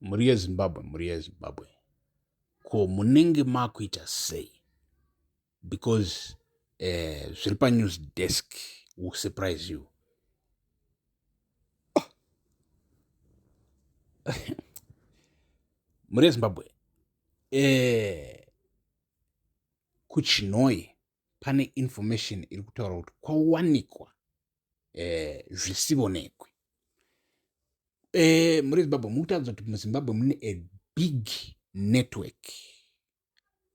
mhuri yezimbabwe mhuri yezimbabwe ko munenge makuita sei because eh, zviri panews desk will surprise you mhuri yezimbabwe eh, kuchinoi pane information iri kutaura kuti kwawanikwa eh, zvisivonekwi eh, muri zimbabwe mukutaridza kuti muzimbabwe mune a big network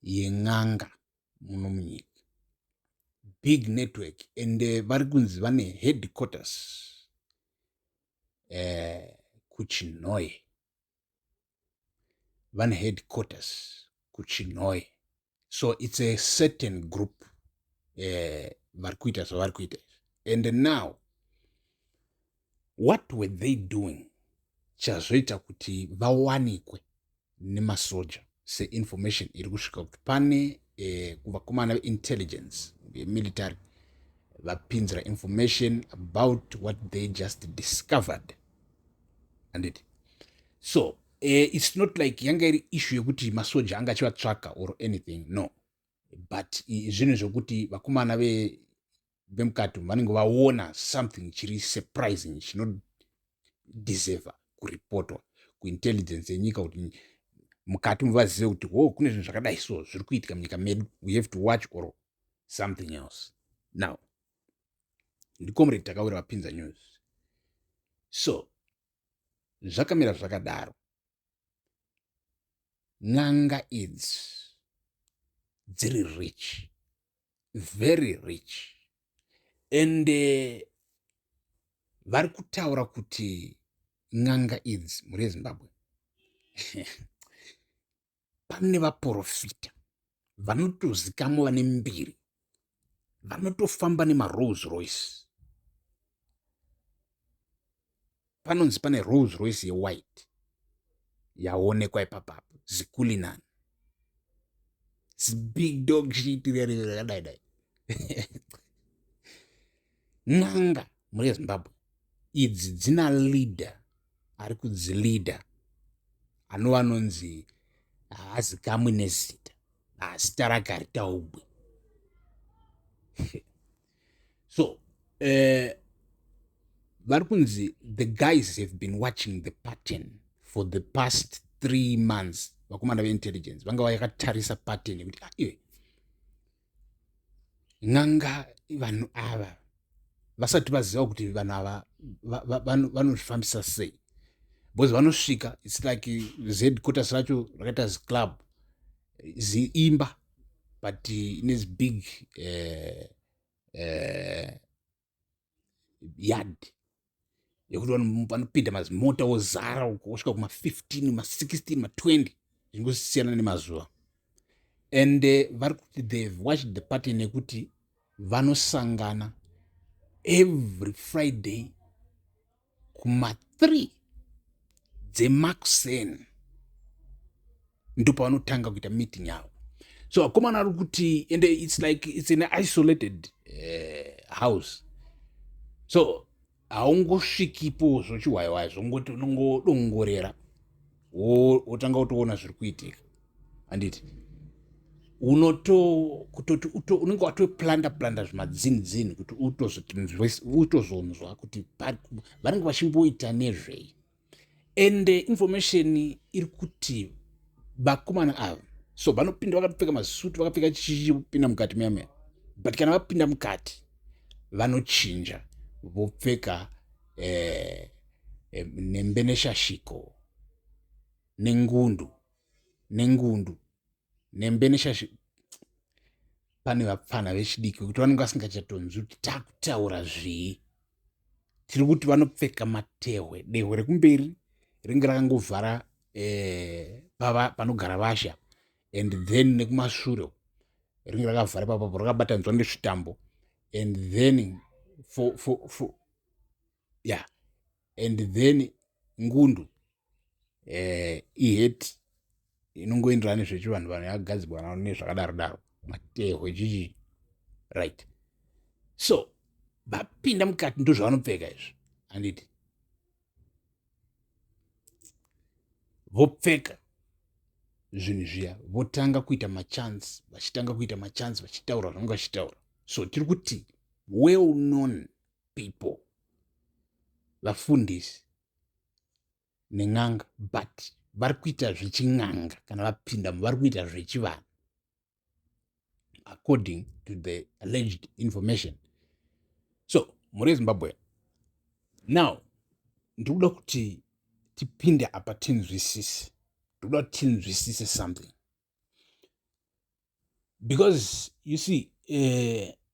yen'anga muno munyika big network and eh, vari kunzi vane headquarters eh, kuchinhoye vane headquarters kuchinhoe so it's a certain group eh, vari kuita zvavari kuita and now what were they doing chazoita kuti vawanikwe nemasoja seinformation iri kusvika kuti pane eh, kuvakomana veintelligence vemilitary vapinzira information about what they just discovered anditi so uh, it's not like yanga iri issue yekuti masoja anga achivatsvaka or anything no but zvinhu zvekuti vakomana vemukati umu vanenge vaona something chiri surprising chinodeserva kuripotwa kuintelligence yenyika kuti mukati umu vazive kuti ho kune zvinhu zvakadai so zviri kuitika munyika medu we have to watch or something else now ndicomrade takawira vapinza news so zvakamira zvakadaro n'anga idzi dziri rich very rich and eh, vari kutaura kuti n'anga idzi mhuri yezimbabwe pane vaporofita vanotozikamwa vane mbiri vanotofamba nemarolls royce panonzi pane rolls royce yewhite yaonekwa ipapapo zikulinani zibig dog chiitirerere rakadai dai N'anga muri eZimbabwe idzi dzina leader ari kudzileader anova anonzi haazikamwi nezita zita rake haritaugwi so uh, vari kunzi the guys have been watching the pattern for the past three months vakomana veintelligence vanga vayakatarisa pattern yekuti ah, iwe n'anga vanhu ava vasati vaziva kuti vanhu ava vanozvifambisa sei because vanosvika its like zquarters racho rakaita ziclub ziimba but ine zibig uh, eh, uh, eh, yard yekuti vanopinda mazimota wozara wosvika kuma 15 ma 16 ma 20 zvingosiyana nemazuva and eh, vari kuti they watched the party nekuti vanosangana every friday kuma 3 dzemakuseni ndopavanotanga kuita meeting yavo so akomana ari kuti and its like its an isolated uh, house so haungosvikipo zvochiwaiwai zvongoti unongodongorera wotanga wotoona zviri kuitika handiti unotokutoti unenge watoplanda planda zvimadzini dzini kuti utozonzwa kuti vanenge vachimboita nezvei and eh, information iri kuti vakomana ava so vanopinda vakapfeka masuti vakapfeka chichipinda mukati muyamea but kana vapinda mukati vanochinja vopfeka eh, eh, nembe neshashiko nengundu nengundu nembe neshashiko pane vapfana vechidiki vekuti vanenge vasingachatonzwi kuti takutaura zvii tiri kuti vanopfeka matehwe dehwe rekumberi ringe rakangovhara eh, panogara vasha and then nekumashure ringe rakavhara papapo rakabatanzwa nezvitambo and then for, for, for, yeah and then ngundu eh, iheti inongoenderana nezvechivanhu vanhu yakagadzirwa navo nezvakadaro daro matehwe chichii right so vapinda mukati ndozvavanopfeka izvi handiti vopfeka zvinhu zviya votanga kuita machance vachitanga kuita machance vachitaura zvange vachitaura so tiri kuti well known people vafundisi nen'anga but vari kuita zvechin'anga kana vapindamo vari kuita zvechivanhu according to the alleged information so muri zimbabwe now ndikuda kuti tipinde apa tinzwisise ndikuda kuti tinzwisise something because you see uh,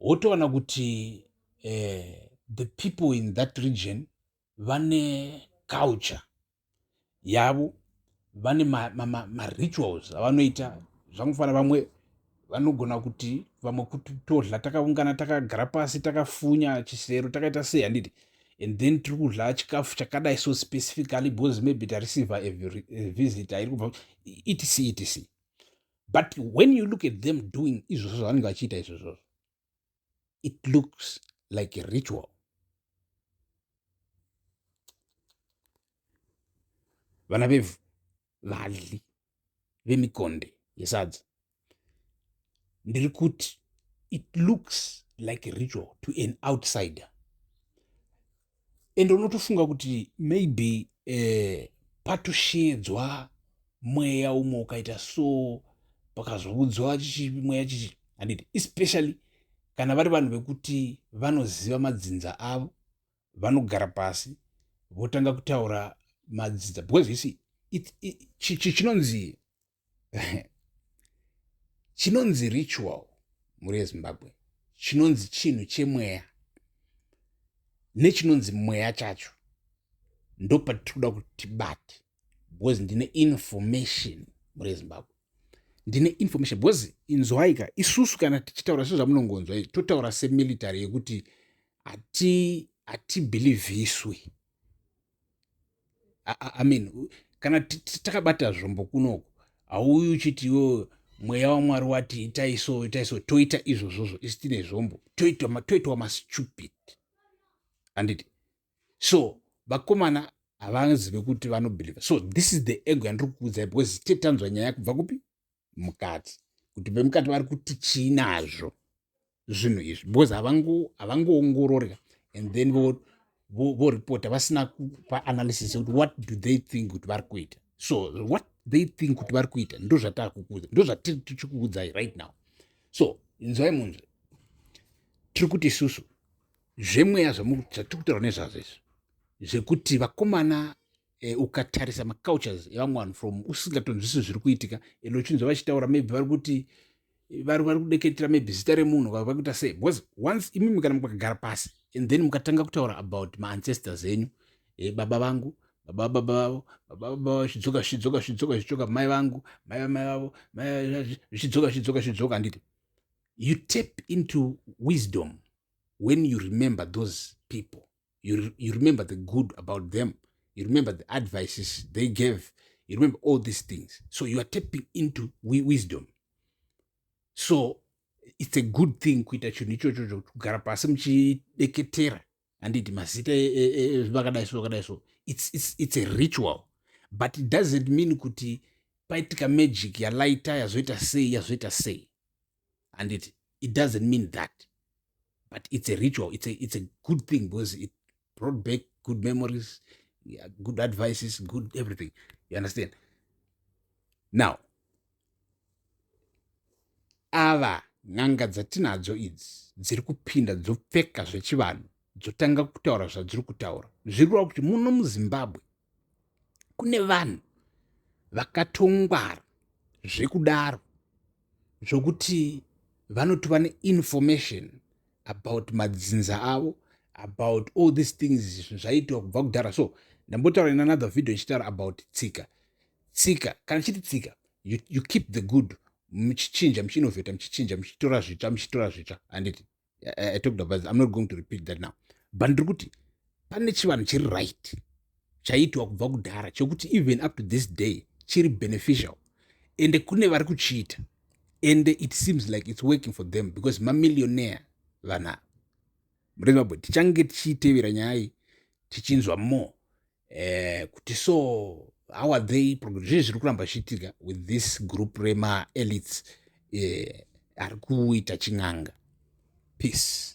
wotoona kuti eh, the people in that region vane culture yavo vane marituals ma, ma, ma avanoita zvangofanira vamwe vanogona kuti vamwe kuti todla takaungana takagara pasi takafunya chisero takaita sei handiti and then tiri kudla chikafu chakadai so specifically because maybe tareceiver a, a visitor iri kubva etc etc but when you look at them doing izvozvo zvavanenge vachiita izvozvozvo it looks like a ritual vana vevhu vadli vemikonde yesadza ndiri kuti it looks like a ritual to an outsider ende unotofunga kuti maybe eh, patosheedzwa mweya umwe ukaita so pakazoudzwa mweya chichi handiti especially kana vari vanhu vekuti vanoziva madzinza avo vanogara pasi votanga kutaura madzinza because you see chinonzi chinonzi ritual mhuri yezimbabwe chinonzi chinhu chemweya nechinonzi mweya chacho ndopatitoda kuti tibate because ndine information mhuri yezimbabwe ndine information because inzwaika isusu kana tichitaura sezvamunongonzwa izvi totaura semilitary yekuti hatibhilivhiswi i mean kana takabata zvombo kunoko hauyi uchiti iwo mweya wamwari wati itai so itai so toita izvozvozvo isi tine zvombo toitwa mastupid handiti so vakomana havazive kuti vanobelieve so this is the ego yandiri kukuudzai because tetanzwa nyaya kubva kupi mukati kuti vemukati vari kuti chii nazvo zvinhu izvi because havangoongorori havango and then voripota vo, vo vasina kupa analysis yekuti what do they think kuti vari kuita so what they think kuti vari kuita ndozvatakukuudza ndozvatiri tichikuudzai right now so inzwai munhu tiri kuti isusu zvemweya zvatiri kutaura nezvazvo izvi zvekuti vakomana eh, ukatarisa macultures evamwe vanhu from usingatonzwisisi zviri kuitika and uchinzwa vachitaura maybe vari kuti vari vari kudeketera maybe zita remunhu vari kuita sei because once imimi kana mukagara pasi and then mukatanga kutaura about maancestors enyu eh, baba vangu baba baba vavo baba baba zvidzoka zvidzoka zvidzoka zvidzoka mai vangu mai mai vavo zvidzoka zvidzoka zvidzoka handiti you tap into wisdom when you remember those people you, you remember the good about them you remember the advices they gave you remember all these things so you are tapping into wisdom so it's a good thing kuita chinhu ichocho chokugara pasi muchideketera handiti mazita e, e, e, zvakadai so zvakadai so it's, it's, it's a ritual but it doesn't mean kuti paitika magic yalaita yazoita sei yazoita sei handiti it doesn't mean that but it's a ritual it's a, it's a good thing because it brought back good memories yeah, good advices good everything you understand now ava n'anga dzatinadzo idzi dziri kupinda dzopfeka zvechivanhu dzotanga kutaura zvadziri kutaura zvirireva kuti muno muzimbabwe kune vanhu vakatongwara zvekudaro zvokuti vanotova neinformation about madzinza avo about all these things zvinhu zvaiitwa kubva kudhara so ndambotaura in another video ndichitaura about tsika tsika kana chiti tsika you, you keep the good muchichinja muchiinovheta muchichinja muchitora zvitsva muchitora zvitsva handiti I, I talked about this. I'm not going to repeat that now. But ndiri kuti pane chivanhu chiri right chaiitwa kubva kudhara chokuti even up to this day chiri beneficial ende kune vari kuchiita ende it seems like it's working for them because mamillionaire vana murezimbabwe tichange tichiitevera nyaya iyi tichinzwa more eh, kuti so how are they zvii zviri kuramba zvichiitika with this group remaelites eh, ari kuita chin'anga peace